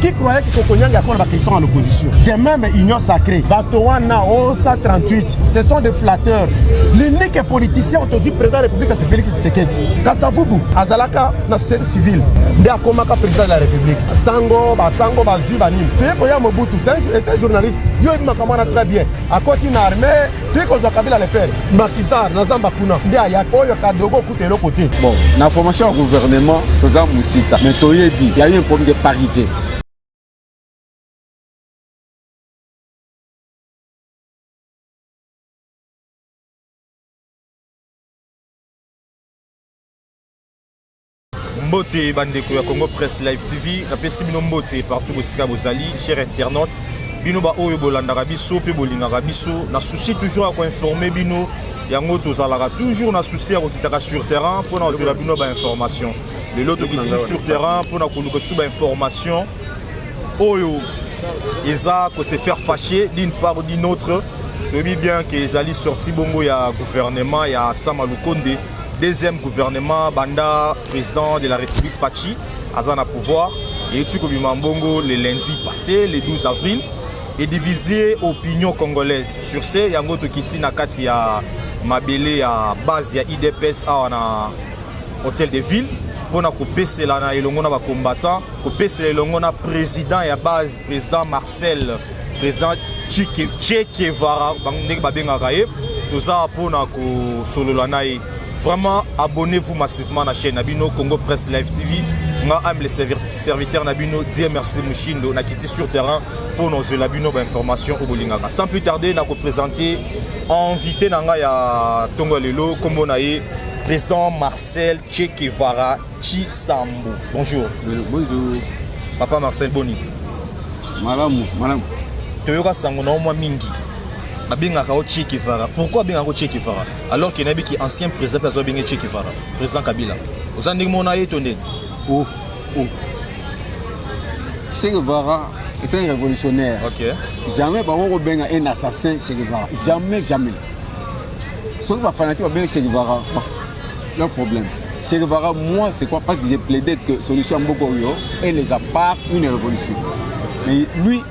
qui croyait que Kokonyanga akona ba question à l'opposition de même union sacrée bato wana osa 38 ce sont des flatteurs l'unique politicien otozwi président ya république c'est Félix Tshisekedi Kasavubu azalaka na société civile nde akomaka président de la république sango basango bazwi banini toye koya Mobutu c'est un journaliste yo oyebi makambo wana très bien akoti na armée toye kozwa Kabila le père Makisar na zamba kuna nde aya oyo kadogo eloko te bon na formation ya gouvernement toza mosika mais toyebi ya yo problème de parité mbote bandeko ya congo presse live tv napesi bino mbote partout bosika bozali cher internaute bino baoyo bolandaka biso mpe bolingaka biso na souci toujours ya koinforme bino yango tozalaka toujours na souci ya kokitaka sur terrain mpo na kozwela bino bainformation lelo tokitisi sur terrain mpo na koluka esu bainformation oyo eza ko se faire fâcher d'une part ou d'une autre toyebi bien ke ezali sorti bongo ya gouvernement ya sama lukonde deuxième gouvernement banda président de la république fachi aza na pouvoir eyuti kobima mbongo le lundi passé le 12 avril et diviser opinion congolaise. Sur ce, yango tokiti na kati ya mabele ya base ya IDPS awa na hôtel de ville mpona kopesela na elongo na bacombattant kopesela elongo na président ya base président marcel président chekevara ndenge babengaka ye toza mpona kosolola na ye Vraiment, abonnez-vous massivement à la chaîne Abino Congo Press Live TV. Moi, aime les serviteurs Nabino. Dieu merci Mushindo. Na quitté sur terrain pour nos Labino information au Bolingaka. Sans plus tarder, na présenter invité nanga ya Tongo Lelo, comme on a eu président Marcel Che Guevara Chisambo. Bonjour. Bonjour. Papa Marcel Boni. Malamu, malamu. Toyoka sango na mwa mingi. Abengaka o Che Guevara. Pourquoi abengaka o Che Guevara? alors que nayebi ki ancien président mpe aza benge Che Guevara président Kabila oza ndenge mona ye to ndenge oh, oh. Che Guevara est un révolutionnaire okay. jamais bango kobenga un assassin Che Guevara jamais jamais soki bafanatique babengi Che Guevara leur problème Che Guevara moi c'est quoi parce que j'ai plaidé que solution ya mboka oyo eleka par une révolution mais lui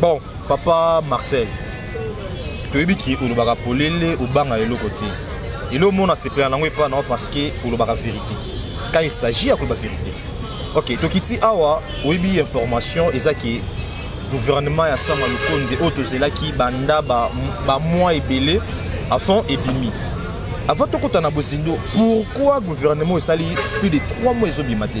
bon papa marcel toyebi ki olobaka polele obanga eloko te eloko mona sepela nango epa nao parce que olobaka vérité quand il s'agit ya koloba vérité ok tokiti awa oyebi information eza ke gouvernement ya sama lukonde oyo tozelaki banda bamwa ebele afon ebimi avant tokota na bozindo pourquoi gouvernement esali plus de 3 mois ezobima te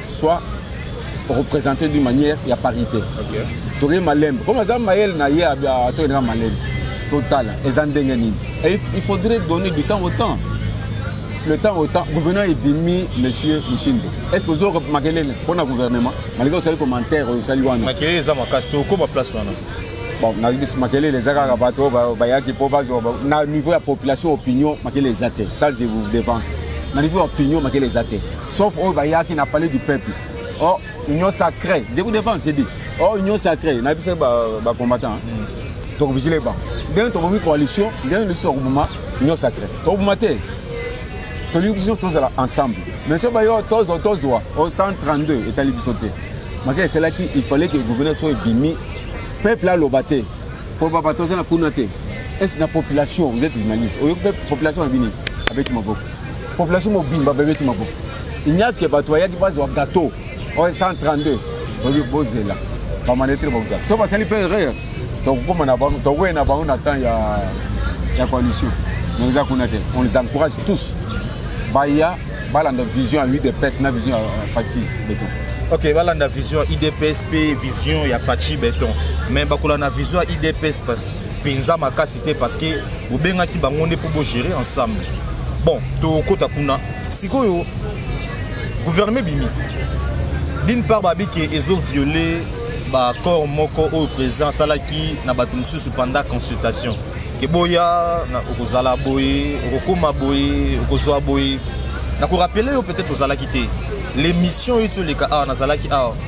soit représenté d'une manière ya parité okay. toke malembe comme aza mayele na ye toyendaka malembe totala eza ndenge nini il faudrait donner du temps au temps le temps au temps gouvernement ebimi monsieur mishindo est ce que ozo makelele mpo na gouvernement malgré osali commentaire oyo osali wana makelele eza makasi tokoma place wana bon nayebi biso makelele eza kaka bato oyo bayaki mpo bazwa na niveau ya population opinion makelele eza te ça je vous devance na niveau ya opinion makelele eza te Sauf oyo bayaki na palais du peuple. Oh, union sacrée. Je vous défends, j'ai dit. Oh, union sacrée. Na biso ba, ba combattants. Hein. Mm. Donc vigilez ba. Bien to bomi coalition, bien le soir bouma union sacrée. To bouma te. To li biso tous ensemble. Mais ce bayo tous tous doit au 132 etali biso te. Makele c'est là qu'il fallait que le gouverneur soit bimi peuple a lobaté. Pour papa tous na kuna te. Est-ce la population, vous êtes journaliste. Au population a bini avec ma beaucoup. Population mobimba bebeti maboko. Il n'y a que bato bayaki bazwa gâteau oyo 132 toyebi bozela bamanetre bakozala so basali mpe erreur tokokoma na bango tokoye na bango na temps ya, ya coalition mais eza kuna te on les encourage tous baya balanda vision ya udps na vision ya faci beton ok balanda vision ya udps mpe vision ya faci beton mais bakolanda vision ya udps penza makasi te parce que bobengaki bango nde mpo bogere ensemble bon tokota kuna sikoyo gouvernement ebimi d'une part babi ke ezo viole baaccord moko oyo président asalaki na bato mosusu pendant consultation ke boya okozala boye okokoma boye okozwa boye nakorapele yo peut-être ozalaki te l'émission oyo ti oleka awa nazalaki awa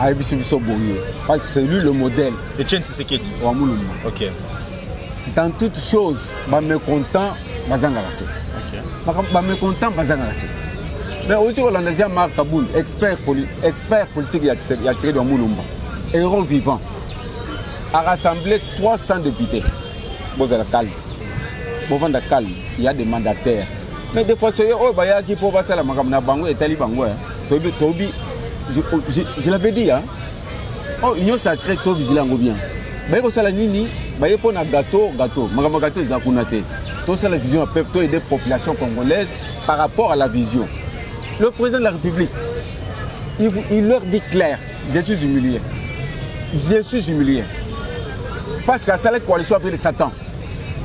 ayebisi biso boye parce que c'est lui le modèle etienne tisekedi wa mulumba ok dans toute chose bamécontent bazangaka te bamécontent bazangaka te mais osi kolanda jean marc kabund expert, poli, expert politique ya tisekedi wa mulumba héros vivant a rassemblé 300 députés bozala calme bovanda calme ya des mandataires mais des fois soye oyo bayaki mpo basala makambo na bango etali bango eh. Tobi, Tobi, je, oh, je, je l'avais dit, hein? Oh, union sacrée, Tobi, je l'ai bien. Baye kosala nini baye mpo na gato gato makambo ya gato eza kuna te tosala vision ya peuple toyede population congolaise par rapport à la vision le président de la république il, il leur dit clair je suis humilié je suis humilié parce que asalaki coalition avec le satan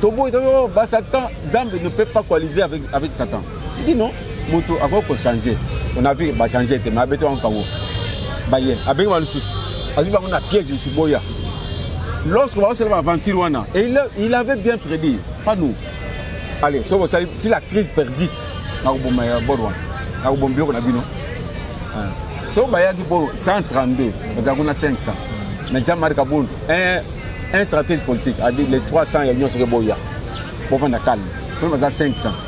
toboyi toyo oh, basatan nzambe ne peut pas coaliser avec, avec satan dino moto akoki kochange on a vu bachange te ma abeti bango kango baye abengi ba lisusu azwi bango na piège lisusu boya lorsque baosala baaventure wana et il avait bien prédit pas nous allez soki osali si la crise persiste nakoboma ya bord wana nakoboma biloko na bino soki bayaki bolo 132 bazalaki na 500 mais jean marc kabund un, un stratège politique adi les 300 ya nyonso ke boya bovanda calme mpe baza 500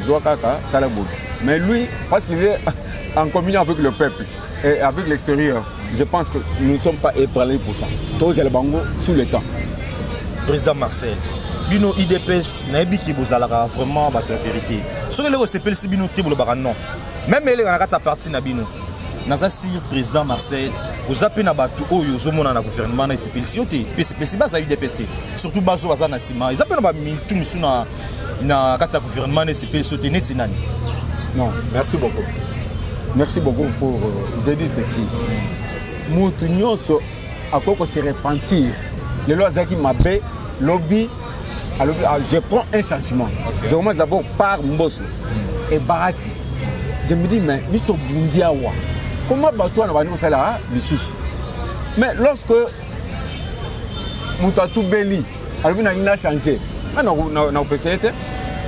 zwa kaka sala boye mais lui parce qu'il est en communion avec le peuple et avec l'extérieur je pense que nous ne sommes pas ébranlés pour ça tozala bango sous le temps président marcel bino idps nayebi ki bozalaka vraiment bato ya vérité soki eleki osepelisi bino te bolobaka non meme eleka na kati ya parti na bino naza sire président marcel oza mpe na bato oyo ozomona na gouvernement na esepelisi yo te mpe esepelisi baza udps te surtout bazo baza na nsima eza mpe na bamitu misu na na kati ya gouvernement na esepelisi yo te neti nani non merci beaucoup merci beaucoup pour euh, je dis ceci motu nyonso akoki kose repentir lelo azalaki mabe lobi alobi ah, je prends un changement okay. je commence d'abord par mboso mm. et barati je me dis mais biso tobundi awa comment bato wana bandi kosala lisusu mais lorsque moto atubeli alobi na nini na change ah, nakopesa ye te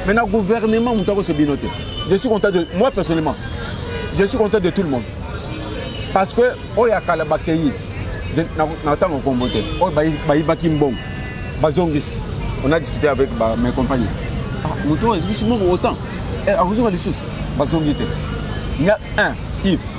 mais na gouvernement moto akosa bino te je suis content de moi personnellement je suis content de tout le monde parce que oyo ya kala bakei na ntango nkombo te oyo bayibaki mbongo bazongisi on a discuté avec mes compagnons ah, moto oyo ezikisi mbongo autant eh, akozonga lisusu bazongi te ya un ive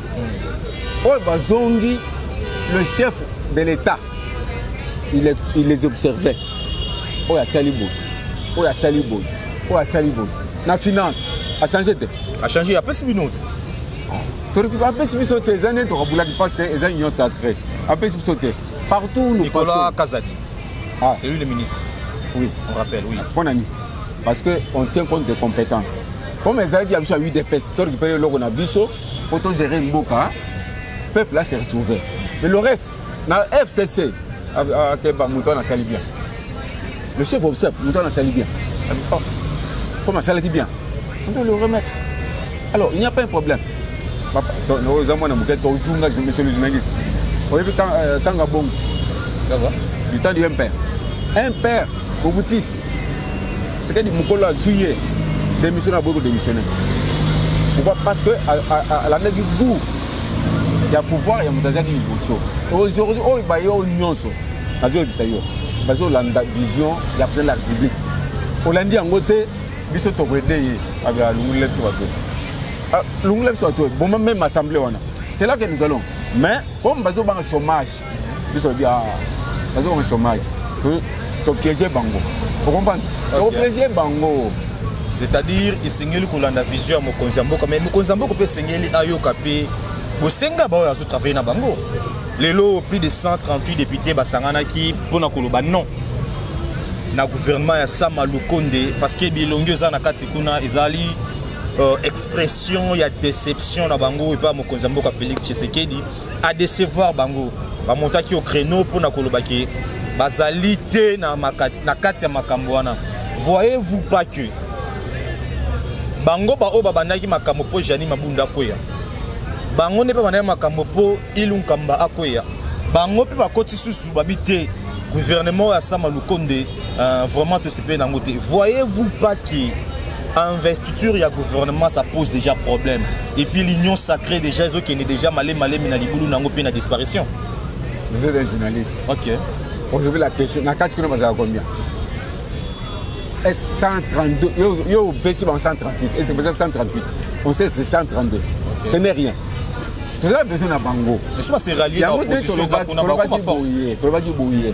oyo bazongi le chef de l'état il, il les observait oyo asali boye oyo asali boye oyo asali boye na finance achange te achange apesi bino te apesi biso te eza nde tokabulaki parce que eza union sacré apesi biso te partout nous passons kazadi ah. c'est lui le ministre oui on rappelle oui mpo na nini parce que on tient compte des compétences comme ezalaki ya biso ya udps to récupere eloko na biso mpo to gérer mboka peuple a se retrouver mais le reste na fcc akeba moto wana asali bien le chef obsep moto wana asali bien oh, comme asalaki bien on doit le remettre alors il n'y a pas un problème oza mwana moke tozunga monsieur le journaliste oyebi tanga bongo du temps du mpr mpr obutisi Sekedi mokolo azwi ye démissionne aboyi kodémissionne pourquoi parce que alandaki goût ya pouvoir ya moto azalaki liboso aujourd'hui oyo baye oyo nyonso bazoyebisa yo bazolanda vision ya président de la république olandi yango te biso tokoede ye abaa lungula biso bato ah, lungula biso bato boma meme assemblée wana c'est là que nous allons mais comme bazobanga chômage biso lobi ah, baza koma chômage topiége bango okomprendre topiége bango c'est-à-dire esengeli kolanda vision ya mokonzi ya mboka mais mokonzi ya mboka mpe esengeli ayoka mpe bosenga baoyo azotravaille na bango lelo plus de 138 députés basanganaki mpo na koloba non na gouvernement ya sama lukonde parce que bilongi eza na kati kuna ezali euh, expression ya déception na bango epai mokonzi ya mboka félix tshisekedi a decevoir bango bamontaki au créneau mpo na koloba ke bazali te na, makati, na kati ya makambo wana voyez-vous pas que bango baoyo babandaki makambo mpo jani mabunda akweya bango nde mpe bandaki makambo mpo ilu nkamba akweya bango mpe bakoti susu babi te gouvernement ya sama lukonde Euh, vraiment tosepeli nango te voyez-vous pas que investiture ya gouvernement ça pose déjà problème et puis l'union sacrée déjà ezokende déjà male malemi na libulu nango mpe na disparition vous êtes un journaliste ok aujourd'hui la question na kati kuna bazala combien est 132 yo opesi bango 138 est ce que 138 on sait c'est 132 ce n'est rien toza besoin na bango yango te tolobaki boye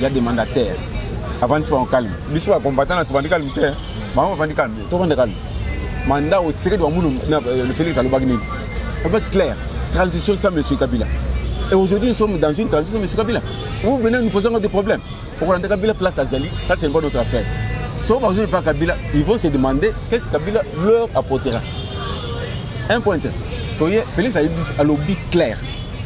ya demanda terre avandi bango calme biso ba combattant na tovandi calme te bango bavandi calme te tovanda calme manda otisekedi bamulu le félix alobaki nini alobaki clair transition sans monsieur kabila et aujourd'hui nous sommes dans une transition monsieur kabila vous venez nous poser encore des problèmes okolanda kabila place azali ça c'est une bonne autre affaire soki bazwi epa kabila ils vont se demander qu'est-ce kabila leur apportera un point toye félix alobi clair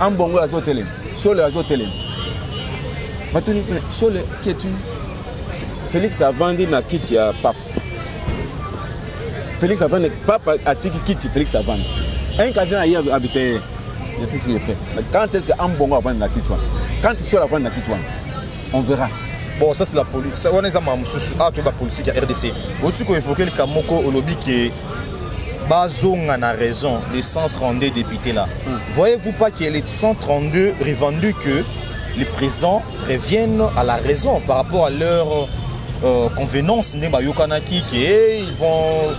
ambongo azo telema sole azo telema batuni mpe sole ketu félix avandi na kiti ya papa félix avandi papa atiki kiti félix avandi un cardinal aye abite ye je sais ce qu'il fait mais quand est ce que ambongo avandi na kiti wana quand sole avandi na kiti wana on verra bon ça c'est la politique wana eza makambo mosusu awa toyeba politique ya rdc otiki koevoke likambo moko olobi ke bazonga na raison les 132 députés là mm. voyez-vous pas que les 132 revendu que les présidents reviennent à la raison par rapport à leur euh, convenance nde bayokanaki ke eh, ils vont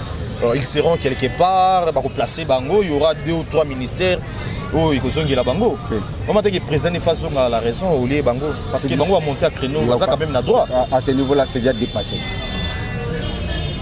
euh, ils seront quelque part bakoplace bango il y aura deux ou trois ministères oyo ekozongela bango vraiment teke président efa azonga la raison olie bango parce que bango bamonte ya créneau baza quand même na droit à ce niveau là c'est déjà dépassé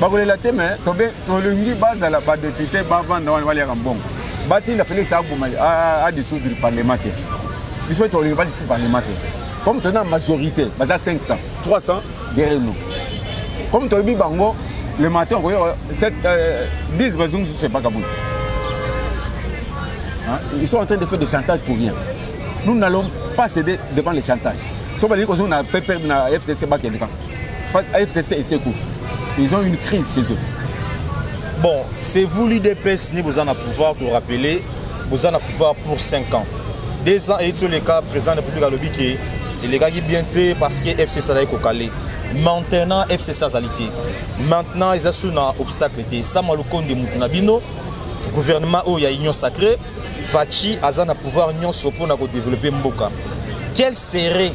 bakolela te me tobe tolingi bazala badepute bavanda wana baliaka mbongo batinda felix aboma adisoudre parlement te biso mpe tolingi badisoudre parlement te comme toza na majorité baza 500 300 derrière nous comme toyebi bango le matin okoyoka 10 euh, bazongi susu epaka boye ils sont en train de faire des chantages pour rien nous n'allons pas céder devant les chantages so balingi kozonga na pp na fcc bakende kaka FCC esi ekufi ils ont une crise chez eux bon c'est vous l'udps nde boza na pouvoir korappeler boza na pouvoir pour 5 ans deux ans eyiti oleka président de république alobi ke elekaki bien te parce que fcc azalaki kokale maintenant fcc azali te maintenant eza sur na obstacle te sama lukonde motu na bino gouvernement oyo ya union sacrée faci aza na pouvoir nyonso mpona kodévelopper mboka quel serait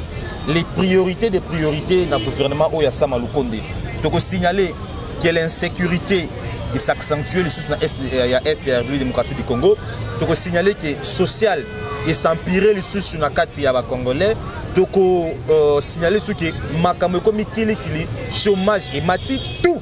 les priorités des priorités na gouvernement oyo ya Sama Lukonde. Toko signaler que l'insécurité s'accentue lisusu na est euh, ya est ya République démocratique du Congo. Toko signaler que social esampire lisusu na kati ya bacongolais toko euh, signale soki makambo ekomi kilikili chômage emati tout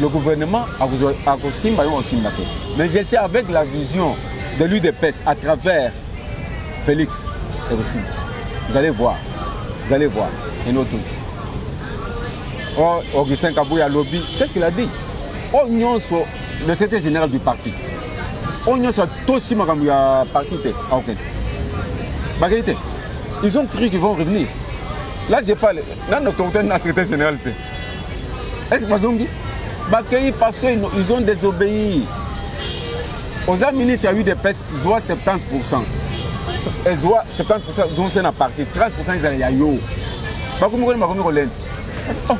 le gouvernement akosimba yo osimba te mais je sais avec la vision de l'udps à travers félix ekosimba vous allez voir vous allez voir et nous tout oh, augustin kabouya lobby qu'est ce qu'il a dit oyo oh, nyonso le secrétaire général du parti oyo oh, nyonso atosi makambo ya parti te aokende ah, bakei te ils ont cru qu'ils vont revenir là je parle nano tokutani na secrétaire général te est ce que bazongi bakei parce que ils ont désobéi oza ministre ya udps zwa 70 pourcent ezwa 70 pourcent zonse na parti 30 pourcent ezala ya yo bakomi koni bakomi kolenda oh.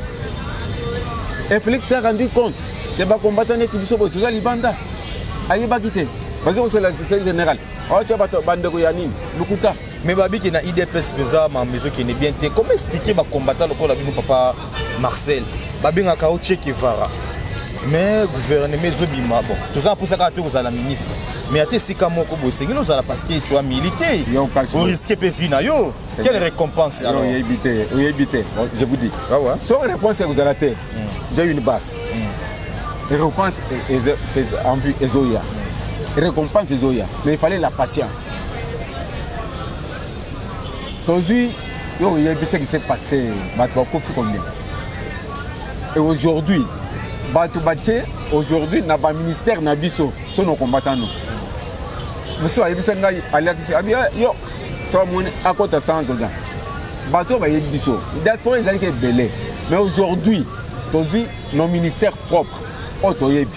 et félix s'est rendu compte ke bakombata neti biso boye toza libanda ayebaki te bazo kosala système général aotya bato bandeko ya nini lokuta Mais babi qui na IDPS pesa ma maison qui n'est bien te. Comment expliquer ba combattant lokola bino papa Marcel? Babi nga kao Che Guevara. Mais gouvernement ezo bima bon. Toza posa ka te kozala ministre. Mais ate sika moko bo sengi no zala parce que tu as milité. Yo kasi. Au risque pe vie na yo. Quelle récompense alors? Yo éviter, yo éviter. Je vous dis. Ah ouais. Sans réponse que vous allez te. Hmm. J'ai une basse. Hmm. Récompense c'est en vue ezoya. Récompense ezoya. Mais il fallait la patience. tozwi yo oyebi ce qui s'est passé bato bakufi combien et aujourd'hui bato batie aujourd'hui na baministère na biso so na combatano mosusu ayebisa ngai alakisi abi eh, yo so amoni akota sans audience bato oyo bayebi biso diaspora ezalaki ebele mais aujourd'hui tozwi nos ministères propres oyo toyebi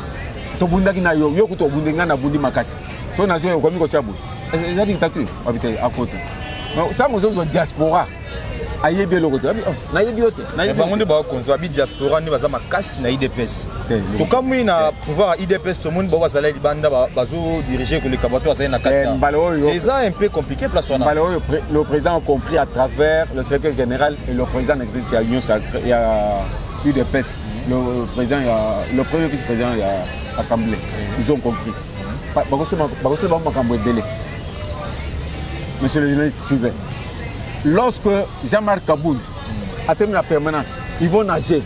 tobundaki na yo yo kutu obundi ngai nabundi makasi so na zoi okomi kotya boye eza dictature wapi te akoto ntango ozozwa diaspora ayebi eloko te oh, nayebi yo te eh, bango nde bakonzi babi diaspora nde baza makasi na idps tokamwi na pouvoir ya idps tomoni bango bazali libanda bazodirige koleka bato bazali na kati eh, eza un peu compliqué place wana mbala oyo le président a compris à travers le secrétaire général et le président existe ya union ya udps le euh, président ya le premier vice président ya assemblée ils ont compris bakosema bango makambo ebele monsieur le journaliste suivait lorsque jean-marc kaboud atemi na permanence ils vont nager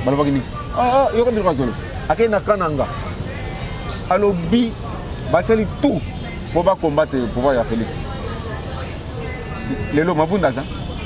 balobaki nini ah, ah, yoka biloko azolo akei na kananga alobi basali tout mpo bacombattre pouvoir ya félix lelo mabunda aza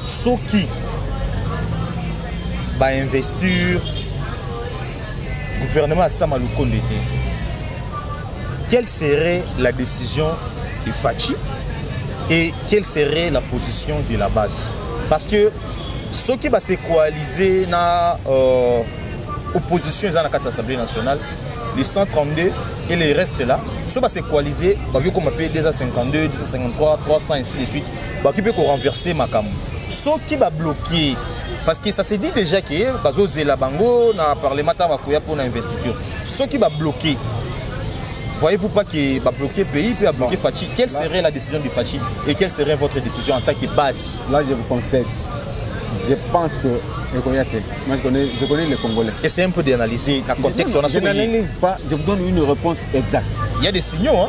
soki ba investir gouvernement ya sama lukonde te quelle serait la décision de Fatshi et quelle serait la position de la base parce que soki ba se coaliser na euh, opposition eza na kati ya assemblée nationale les 132 et les restes là soki ba se coaliser bakoki koma mpe 252 253 300 ainsi de suite bakoki mpe korenverse makambo soki babloke parce que ça se dit déjà ke bazozela bango na parlement ntango bakoya mpo na investiture soki babloke voyez-vous pas que babloke pays mpe abloke fachi quelle serait la décision du fachi et quelle serait votre décision en tant que base là je vous concède je pense que ekoya te moi je connais, je connais les congolais essayez un peu d'analyser na contexte wana je n'analyse pas je vous donne une réponse exacte il y a des signaux hein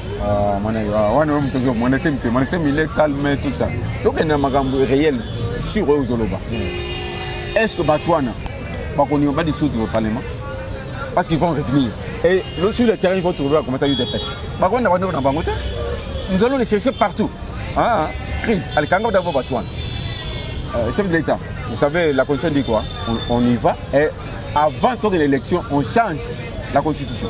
Ah, ah, wana oyo moto ozo mwana esemi te mwana esemi ile calme tout ça tokende na makambo réel sur oyo ozoloba hmm. est ce que bato wana bakondima ba dissoudre parlement parce qu'ils vont revenir et le sur le terrain ils vont trouver bakomata udps bakonda bandeko na bango te nous allons les chercher partout ah, crise alikanga d'abord bato wana euh, chef de l'état vous savez la constitution dit quoi on, on y va et avant tokende élection on change la constitution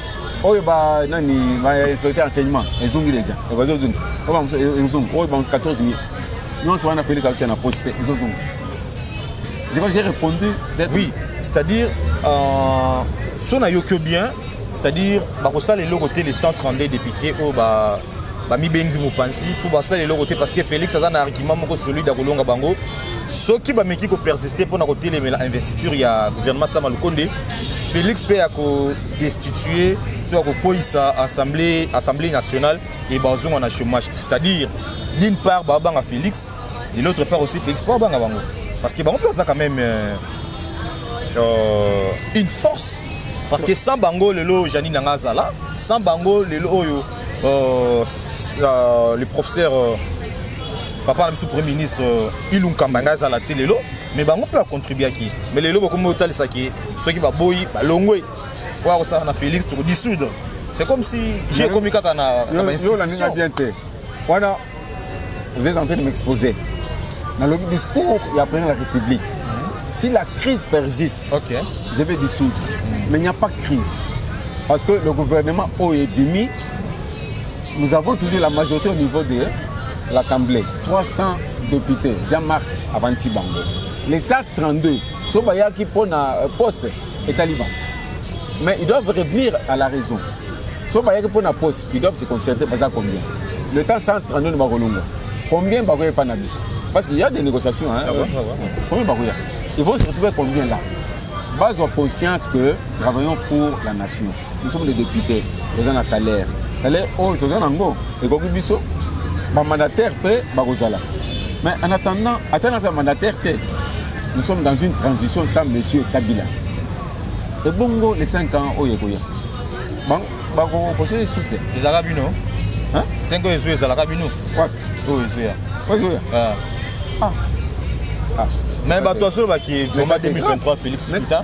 oyo ba nani ba inspecteur enseignement ezongi deja bazo zongisa oyo ba ezongi oyo ba 14 000 nyonso wana Felix atia na poche te ezo zonga je crois j'ai répondu peut-être oui c'est-à-dire euh, so na yokio bien c'est-à-dire bakosala eloko te les 132 députés oyo ba bamibengisi mopanzi mpo basala eloko te parce que félix aza na argument moko solide ya kolonga bango soki bameki kopersiste mpo na kotelemela investiture ya gouvernement sama lukonde félix mpe destituer to ya kokweisa assemblée, assemblée nationale et bazonga na chômage c'est-à-dire d'une part babanga félix et l'autre part aussi félix mpo babanga bango parce que bango mpe baza quand même euh, euh, une force parce que sans bango lelo janine nanga azala sans bango lelo oyo euh, euh, le professeur euh, papa na biso premier ministre euh, ilunkamba ngai azala ti lelo mais bango mpe bacontribuaki mais lelo bokomi botalisa ke soki baboyi balongwe oyo akosala na félix tokodissoudre c'est comme si j'ai ekomi kaka na bainstitution bien te wana vous êtes en train de m'exposer nalobi discours ya président de la république si la crise persiste okay. je vais dissoudre mais il n'y a pas de crise parce que le gouvernement oyo ebimi nous avons toujours la majorité au niveau de l'assemblée 300 députés jean-marc avanti bango les actes 32 so bayaki mpo na euh, poste etali bango mais ils doivent revenir à la raison so bayaki mpo na poste ils doivent se concerter baza combien le temps 132 nde bakolongwa combien bakoya epai na biso parce qu'il y a des négociations hein, ah ouais, ah ouais. combien bakoya ils vont se retrouver combien là bazwa conscience que travaillons pour la nation nous sommes des députés toza na salaire salaire oyo toza nango ekoki biso bamandataire mpe bakozala mais en attendant ata naza mandataire te nous sommes dans une transition sans monsieur kabila ebongo les 5 ans oyo ekoya bakokosa esu te ezalaka bino 5 oyo ezoya ezalaka bino oyo ezoya oyo ezoya ah. Ah. Ah. mais bato asolobaki vraiment 2023 félix sita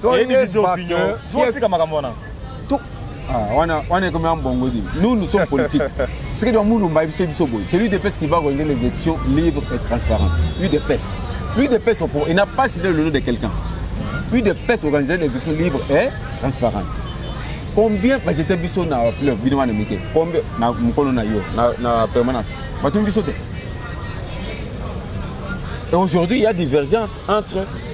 Toyebi vision opinion. Faut tika makambo wana. Ah, wana wana ekomi ya mbongo di nous nous sommes politiques soki donc mulumba ayebisi biso boye c'est l'udps qui va organiser les élections libres et transparentes udps l'udps opro il n'a pas cité le nom de quelqu'un udps organiser les élections libres et transparentes combien bajete biso na fleuve bino wana mike combien na mokolo na yo na, na permanence batuni biso te et aujourd'hui il y a divergence entre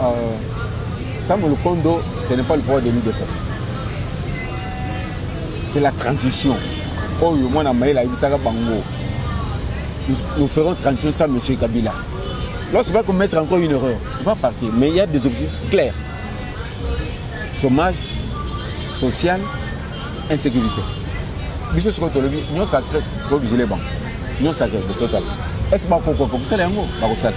Euh, Sam Lukondo, ce n'est pas le pouvoir de l'UDPS. C'est la transition. Oh, moi, na maïla, il s'agit bango. Nous, nous ferons transition sans M. Kabila. Lorsqu'il va commettre encore une erreur, il va partir. Mais il y a des objectifs clairs. Chômage, social, insécurité. biso sikoyo tolobi nyonso acre tovigile bango nyonso acre total est ce que bakokokokosala yango bakosala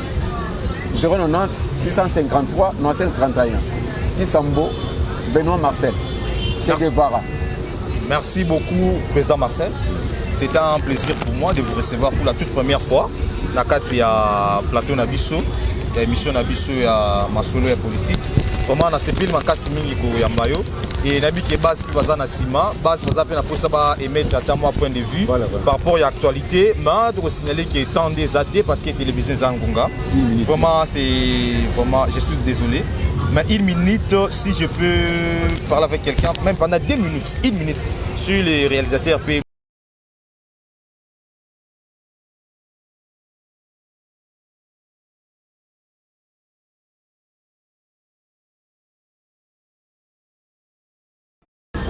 090 653 95 31 Tisambo Benoît Marcel Che Guevara Merci beaucoup président Marcel c'est un plaisir pour moi de vous recevoir pour la toute première fois na kati ya plateau na biso ya émission na biso ya masolo ya politique vraiment nasepeli makasi mingi koyamba yo et nayebi ke base mpe baza na nsima base baza mpe na mposa ba émettre ata mwa point de vue voilà, voilà. par rapport ya actualité ma tokosignale ke temps nde eza te parce que télévision eza ngonga vraiment c'est vraiment je suis désolé mais une minute si je peux parler avec quelqu'un même pendant deux minutes une minute sur les réalisateurs mpe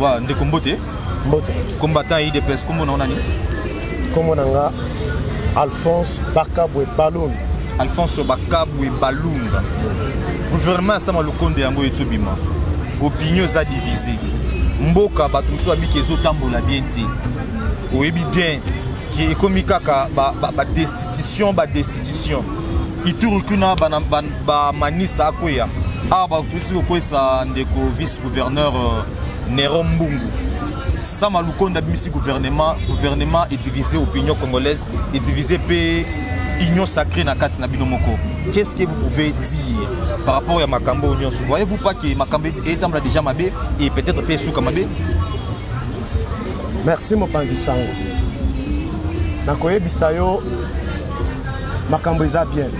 wa ndeko mbote mbote combattant ya idps kombo na nani kombo na nga alphonse bakabwe balon alphonse bakabwe balunga gouvernement ya sama lokondo yango etobima opinion eza divise mboka bato mosusu babiki ezotambola bien te oyebi bien ke ekomi kaka badestitution ba, ba badestitution ituru kuna bana, bana ba manisa akweya awa bakoki kokwesa ndeko vice gouverneur euh, nero mbungu sama lukonda abimisi gouvernement gouvernement edivise opinion congolaise edivise mpe union sacrée na kati na bino moko qu'est-ce que vous pouvez dire par rapport ya makambo oyo nyonso voyez-vous pas que makambo etambola déjà mabe et peut-être mpe esuka mabe merci mopanzi sango nakoyebisa yo makambo eza bien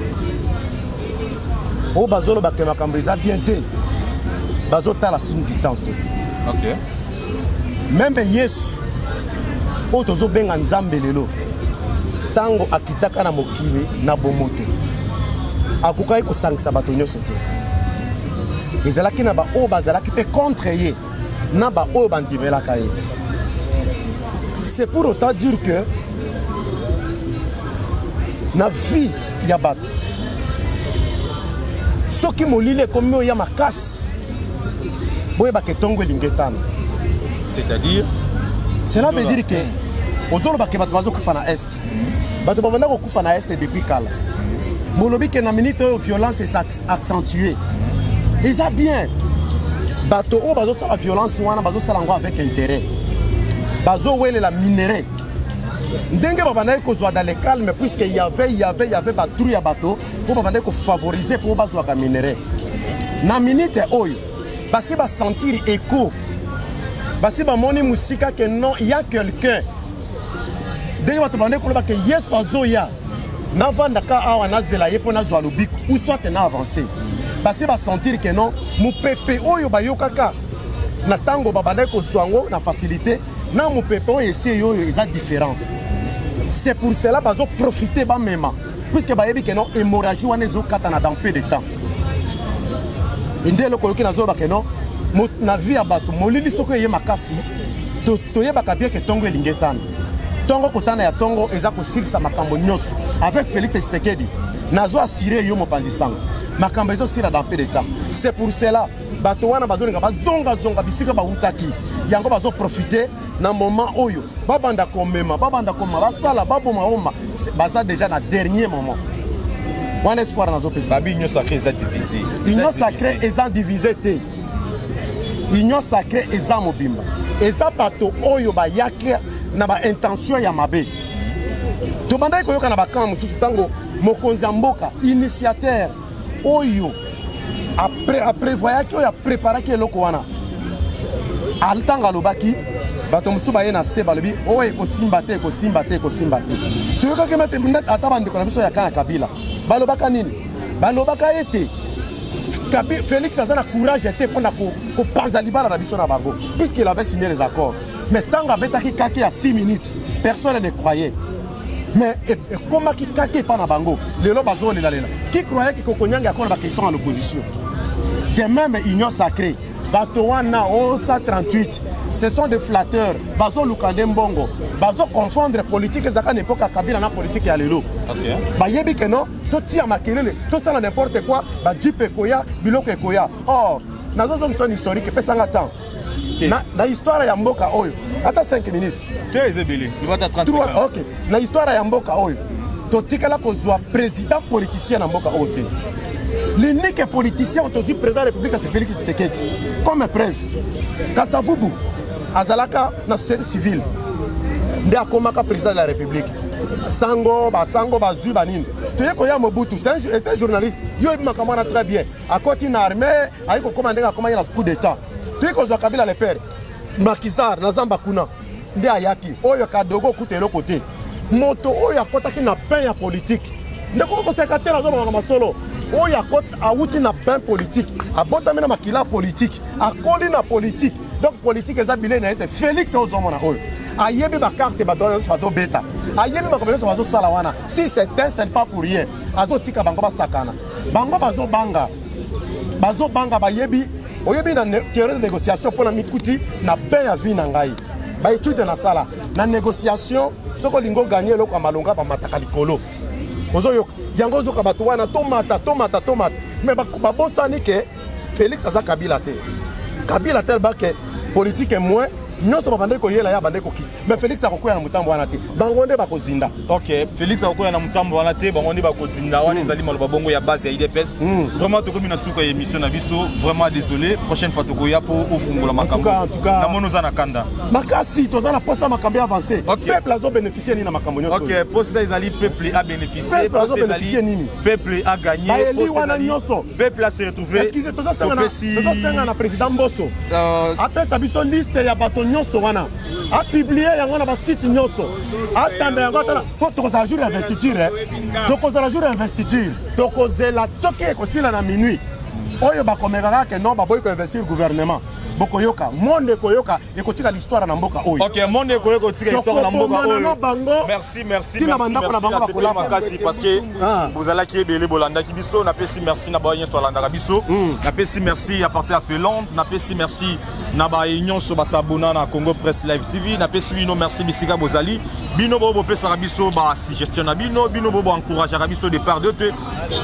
oyo bazoloba ke makambo eza bien te bazotala signe du temps te okay. meme yesu oyo tozobenga nzambe lelo ntango akitaka na mokili na bomoto akokaki kosangisa bato nyonso te ezalaki na baoyo bazalaki mpe contre ye na baoyo bandimelaka ye c'est pour autant dire que na vie ya bato soki molili ekomi oya makasi boyebaka etongo elingi etana c'est-à-dire cela veut dire que ozolobaka bato bazokufa na est bato babanda kokufa na este depuis kala bolobi ke na minute oyo violence esa accentue eza bien bato oyo bazosala violence wana bazosala yango avec intérêt bazowelela minerai ndenge babandaki kozwa dans le calme puisque yave yave yave batrou ya bato mpo babandaki kofavorize mpo bazwaka minerai na minute oyo basi basentir echo basi bamoni mosika ke non ya quelqu'un ndenge bato bande koloba ke yesu azoya navandaka awa nazela ye mpo nazwa lobiko ou soit na avance basi basentir ke non mopepe oyo bayokaka na ntango babandaki kozwa yango na facilité na mopepe oyo esi eyoyo eza différent c'est pour cela bazoprofite bamema puisque bayebi ke non hémorragie wana ezokatana dans peu de temps ende eloko oyoki nazoloba ke non na vie ya bato molili soko eye makasi toyebaka bien ke ntongo elingi etana ntongo kotana ya ntongo eza kosilisa makambo nyonso avec félix tshisekedi nazo assuré yo mopanzi sango makambo ezosila dans peu de temps c'est pour cela bato wana bazolinga bazongazonga bisika bautaki yango bazoprofite na moment oyo babanda komema babanda koma basala baboma oma baza déjà na dernier moment wana espoir nazopesa babi union sacré eza divise union sacré eza divise te union sacré eza mobimba eza bato oyo bayaki na baintention ya mabe tobandaki koyoka na bakamp mosusu ntango mokonzi ya mboka initiateur oyo aprevoyaki oyo apreparaki eloko wana ntango alobaki bato mosusu baye na se balobi oyo oh, ekosimba te ekosimba te ekosimba te toyokaki mate ata bandeko na biso ya kaka kabila balobaka nini balobaka ete félix aza na courage te mpo na kopanza libala na biso na bango puisqu'il avait signé les accords mais ntango abetaki kake ya 6 minutes personne ne croyait mais ekomaki kaka epa na bango lelo bazolelalela qui croyait que kokonyanga akona bakestion ya l'opposition de même union sacrée bato wana osa 38 ce sont des flatteurs bazoluka nde mbongo bazoconfondre politike ezalaka na epoka kabila na politike ya lelo okay. bayebi ke no totia makelele tosala n'importe quoi bajipe ekoya biloko ekoya or nazozongisa historike pesanga temps te na, na histoire ya mboka oyo ata 5 minutes te eza ebele lobata 30 ok na histoire ya mboka oyo totikala kozwa président politicien na mboka oyo te l'unique politicien oyo tozwi président ya république c'est félix tshisekedi comme preuve kasavubu azalaka na société civile nde akomaka président de la république sango basango bazwi banini toye koya mobutu c'est un journaliste yo oyebi makambo wana très bien akoti na armée ayi kokoma ndenge akomaki na coup d'etat ti kozwa kabila le père makizar na zamba kuna nde ayaki oyo kadogo okuta eloko te moto oyo akotaki na pain ya politike ndeko okoseka te nazobamaka masolo oyo awuti na pain politike abotami na makila politike akoli na politike donc politike eza bilei na ye se félix ozomona oyo ayebi bakarte bato wana nyonso bazobeta ayebi makambo nyonso bazosala wana si c'est un c'est pas pour rien azotika bango basakana bango bazobanga bazo banga bayebi oyebi na theorie de négociation pona mikuti na pain ya vie na ngai ba étude na sala na négociation soko lingo gagner eloko ya malonga ba mataka likolo ozo yoka yango ozoka bato wana tomata tomata tomata mais babosani ke félix aza kabila te kabila telba ke politike moins nyonso babandaki koyela ye abandaki kokita mais Felix akokwea na mutambo wana te bango nde bakozinda ok Felix akokwea na mutambo wana te bango nde bakozinda wana hmm. ezali maloba bongo ya base ya IDPS hmm. vraiment tokomi na suka ya émission na biso vraiment désolé prochaine fois tokoya po ofungola makambo na mono za na kanda makasi toza na posa makambo avance peuple azo bénéficier nini na makambo nyonso ok posa ezali peuple a bénéficier posa ezali nini peuple a gagner bayeli wana nyonso peuple a se retrouver excusez tozo senga na président Mboso euh, apesa biso liste ya bato nyonso wana apiblie yango na basite nyonso atanda yango atala po tokozala jour ya investiture eh. tokozala jour ya investiture tokozela soki ekosila na minuit oyo bakomekaka ke non baboyi koinvestir gouvernement bokoyoka monde ekoyoka ekotika l'histoire na mboka oyo okay, monde ekoyoka ekotika histoire na mboka oyo na bango merci merci tina bandako na bango bakola makasi parce que ah. bozalaki ebele bolandaki biso napesi merci na bayo nyonso alandaka biso hmm. napesi merci à partir ya Finlande napesi merci na baye nyonso basabona na congo press live tv napesi bino merci bisika bozali bino boyo bopesaka biso basuggestion na bino bino boyo boencourageaka biso de part d'autre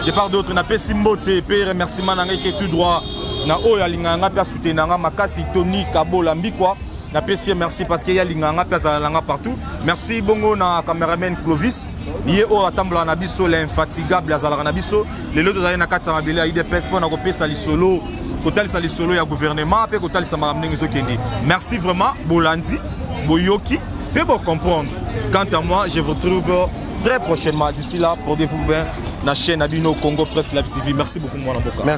de part d'autre napesi mbote mpe remerciement na ngai ke tout droit na oyo alingaka ngai mpe asutena ngai makasi tony kabola mbikwa napesi ye merci parce que ye alingaka ngai mpe azala na ngai partout merci bongo na cameraman clovis ye oyo atambolaka na biso l'infatigable azalaka na biso lelo tozali na kati ya mabele ya idps mpo na kopesa lisolo kotalisa lisolo ya gouvernement mpe kotalisa makambo ndenge ezokende merci vraiment bolandi boyoki mpe bocomprendre quant à moi je vous trouve très prochainement d'ici là portez-vous bien na chaîne na bino congo presse live tv merci beaucoup mwana mboka